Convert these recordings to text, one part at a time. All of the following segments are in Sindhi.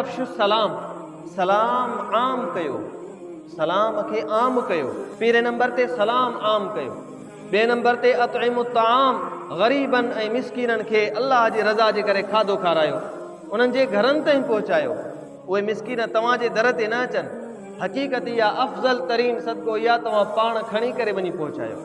افشو السلام، سلام عام ڪيو، سلام کي عام ڪيو. پهرين نمبر تي سلام عام ڪيو، ٻئي نمبر تي اطعموا الطعام، غريبن ۽ مسڪينن کي الله جي رضا جي ڪري کاڌو کارايو، انهن جي گهرن تائين پهچايو. اهي مسڪين توهان جي در تي نه اچن، حقيقت اها افضل ترين صدقو اها توهان پاڻ کڻي ڪري وڃي پهچايو.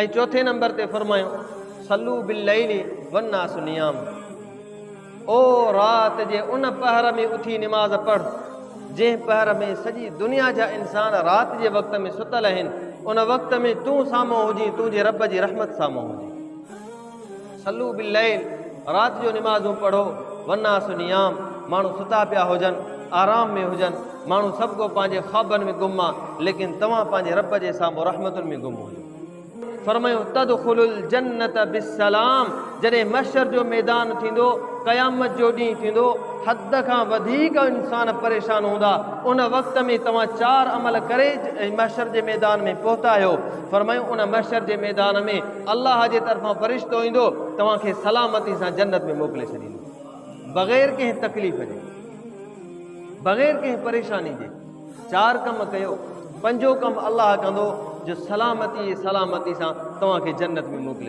۽ چوٿين نمبر تي فرمايو، صلوا بالليل والناس نيام، او رات جي ان پهر ۾ اٿي نماز پڙهه، جنهن پهر ۾ سڄي دنيا جا انسان رات جي وقت ۾ ستل آهن، ان وقت ۾ تون سامهون هجين تنهنجي رب جي رحمت سامهون هجين. صلو بالليل، رات جو نمازون پڙهو، والناس نيام، ماڻهو ستا پيا هجن، آرام ۾ هجن، ماڻهو سڀ ڪو پنهنجي خوابن ۾ گم آ، ليڪن توهان پنهنجي رب جي سامهون رحمتن ۾ گم هجو. فرمايو، تدخلو الجنة بالسلام، جڏهن محشر جو ميدان ٿيندو، قيامت جو ڏينهن ٿيندو، حد کان وڌيڪ انسان پريشان هوندا، ان وقت ۾ توهان چار عمل ڪري محشر جي ميدان ۾ پهتا آهيو، فرمايو، ان محشر جي ميدان ۾. الله جي طرفان فرشتو ايندو توهان کي سلامتي سان جنت ۾ موڪلي ڇڏيندو بغير ڪنهن تڪليف جي بغير ڪنهن پريشاني جي چار ڪم ڪيو پنجو ڪم الله ڪندو جو سلامتي سلامتي سان توهان کي جنت ۾ موڪلي